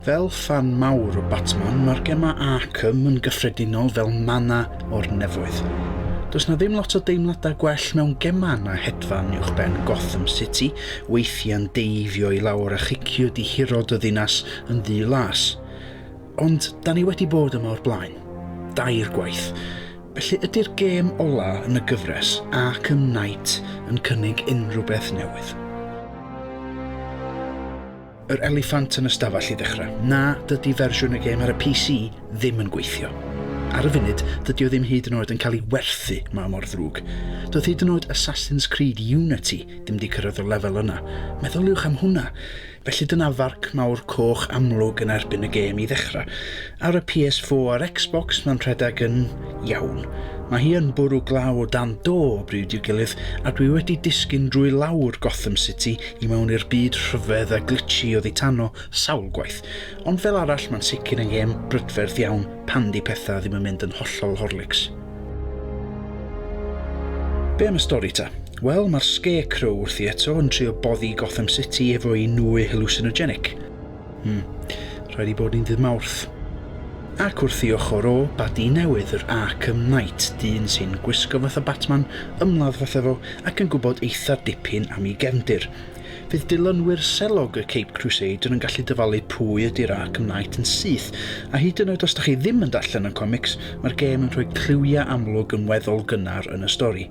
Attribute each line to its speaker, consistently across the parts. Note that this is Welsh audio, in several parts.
Speaker 1: Fel ffan mawr o Batman, mae'r gemau Arkham yn gyffredinol fel manna o'r nefoedd. Does 'na ddim lot o deimladau gwell mewn gemau na hedfan uwchben Gotham City, weithiau'n deifio i lawr a chicio dihirod y ddinas yn ddu las. Ond 'da ni wedi bod yma o'r blaen. Dair gwaith. Felly ydy'r gêm ola' yn y gyfres, Arkham Knight, yn cynnig unrhywbeth newydd? Yr eliffant yn y stafell i ddechrau. Na, dydy fersiwn y gêm ar y PC ddim yn gweithio. Ar y funud, dydy o ddim hyd yn oed yn cael ei werthu, mae mor ddrwg. Doedd hyd yn oed Assassin's Creed Unity ddim wedi cyrraedd y lefel yna. Meddyliwch am hwnna! Felly dyna farc mawr coch amlwg yn erbyn y gêm i ddechrau. Ar y PS4 a'r Xbox mae'n rhedeg yn iawn. Mae hi yn bwrw glaw o dan do o bryd i'w gilydd, a dwi wedi disgyn drwy lawr Gotham City i mewn i'r byd rhyfedd a glitchy oddi tano sawl gwaith, ond fel arall mae'n sicr yn gêm brydferth iawn pan di pethau ddim yn mynd yn hollol Horlicks. Be am y stori ta? Wel, mae'r Scarecrow wrthi eto yn trio boddi Gotham City efo'i nwy hallucinogenic. Hmm, rhaid i bod ni'n ddydd Mawrth. Ac wrth i ochr o badi newydd yr Arkham Knight, dyn sy'n gwisgo fatha Batman, ymladd fatha fo ac yn gwybod eitha dipyn am ei gefndir. Fydd dilynwyr selog y Cape Crusader yn gallu dyfalu pwy ydi'r Arkham Knight yn syth, a hyd yn oed os dach chi ddim yn darllen y comics, mae'r gêm yn rhoi cliwiau amlwg yn weddol gynnar yn y stori.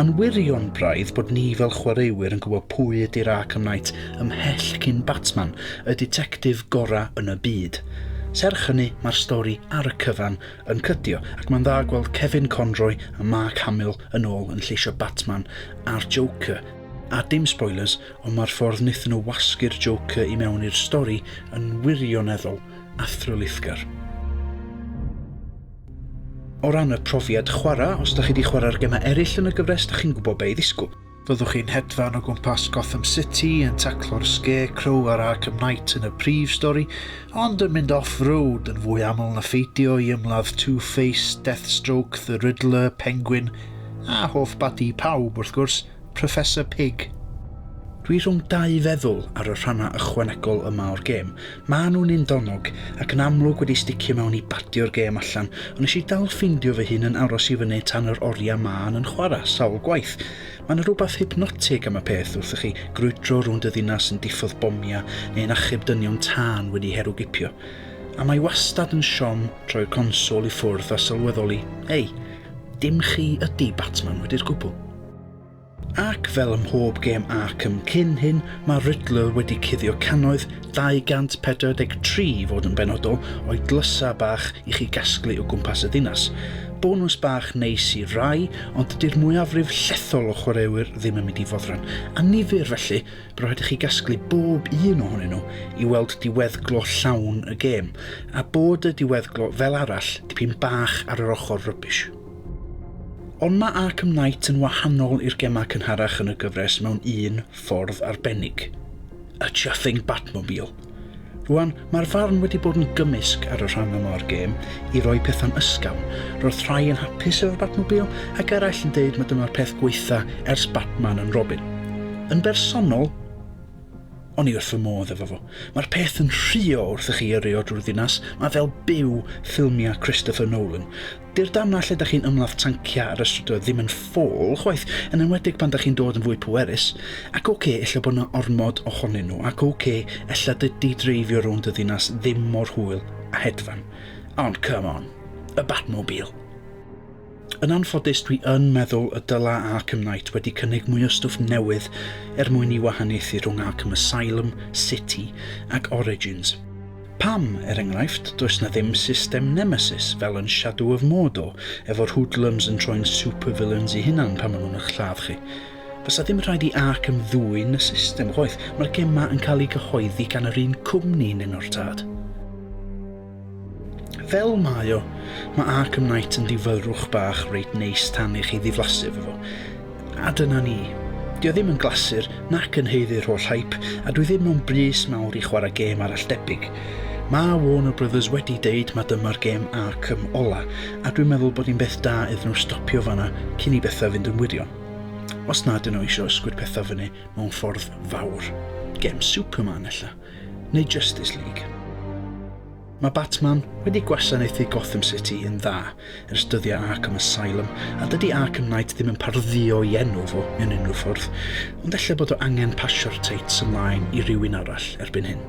Speaker 1: Mae'n wirion braidd bod ni fel chwaraewyr yn gwybod pwy ydy'r Arkham Knight ymhell cyn Batman, y ditectif gorau yn y byd. Serch hynny, mae'r stori ar y cyfan yn cydio, ac mae'n dda gweld Kevin Conroy a Mark Hamill yn ôl yn lleisio Batman a'r Joker. A dim spoilers, ond mae'r ffordd wnaethon nhw wasgu'r Joker i mewn i'r stori yn wirioneddol athrylithgar. O ran y profiad chwarae, os da chi di chwarae'r gemau eraill yn y gyfres da chi'n gwybod be i ddisgwyl. Byddwch chi'n hedfan o gwmpas Gotham City yn taclo'r Scarecrow a'r Arkham Knight yn y prif stori, ond yn mynd off-road yn fwy aml na pheidio i ymladd Two-Face, Deathstroke, The Riddler, Penguin, a hoff badi pawb wrth gwrs, Professor Pig. Dwi rhwng dau feddwl ar y rhannau ychwanegol yma o'r gêm. Maen nhw'n un donnog, ac yn amlwg wedi sticio mewn i badio'r gêm allan, ond nes i dal ffeindio fy hun yn aros i fyny tan yr oriau maen yn chwarae sawl gwaith. Mae 'na rwbath hypnotig am y peth wrth i chi grwydro rownd y ddinas yn diffodd bomiau neu'n achub dynion tân wedi herwgipio. A mae wastad yn siom troi'r console i ffwrdd a sylweddoli, hei, dim chi ydi Batman wedi'r gwbl. Ac fel ym mhob gêm Arkham cyn hyn, mae Riddler wedi cuddio cannoedd, 243 i fod yn benodol, o'i dlysau bach i chi gasglu o gwmpas y ddinas. Bonws bach neis i rai, ond dydy'r mwyafrif llethol o chwaraewyr ddim yn mynd i foddran. Annifyr, felly, bydd rhaid i chi gasglu bob un ohonyn nhw i weld diweddglo llawn y gêm, a bod y diweddglo, fel arall, dipyn bach ar yr ochr rybish. Ond mae Arkham Knight yn wahanol i'r gemau cynharach yn y gyfres mewn un ffordd arbennig, y chuffing Batmobile. Rwan, mae'r farn wedi bod yn gymysg ar y rhan yma o'r gêm i roi pethau'n ysgafn, roedd rhai yn hapus efo'r Batmobile ac eraill yn deud mae dyma'r peth gwaetha ers Batman and Robin. Yn bersonol, o'n i wrth fy modd efo fo. Mae'r peth yn rhuo wrth i chi yrru o drwy'r ddinas, mae fel byw ffilmiau Christopher Nolan. Dy'r damnau lle da chi'n ymladd tanciau ar y strydoedd ddim yn ffôl chwaith, yn enwedig pan da chi'n dod yn fwy pwerus. Ac ok, ella bod 'na ormod ohonyn nhw, ac ok, ella dydy dreifio rownd y ddinas ddim mor hwyl a hedfan. Ond come on! Y Batmobile! Yn anffodus, dwi yn meddwl y dyla Arkham Knight wedi cynnig mwy o stwff newydd er mwyn i wahaniaethu rhwng Arkham Asylum, City ac Origins. Pam, er enghraifft, does 'na ddim system nemesis fel yn Shadow of Mordor efo'r hoodlums yn troi'n supervillains i hunan pan ma' nhw'n ych lladd chi? Fasa ddim rhaid i Arkham ddwyn y system, chwaith, mae'r gem 'ma yn cael ei gyhoeddi gan yr un cwmni yn enw'r tad. Fel mae o, mae Arkham Knight yn difyrrwch bach reit neis tan i chi ddiflasu efo fo. A dyna ni. Dio ddim yn glasur nac yn haeddu'r holl hype a dwi ddim mewn brys mawr i chwarae gêm arall debyg. Ma' Warner Brothers wedi deud ma' dyma'r gêm Arkham ola a dwi'n meddwl bod hi'n beth da iddyn nhw stopio fanna cyn i bethau fynd yn wirion. Os na ydyn nhw eisiau ysgwyd pethau fyny mewn ffordd fawr. Gem Superman ella. Neu Justice League. Mae Batman wedi gwasanaethu Gotham City yn dda ers dyddiau Arkham Asylum, a dydy Arkham Knight ddim yn pardduo i enw fo mewn unrhyw ffordd, ond ella bod o angen pasio'r teits ymlaen i rywun arall erbyn hyn.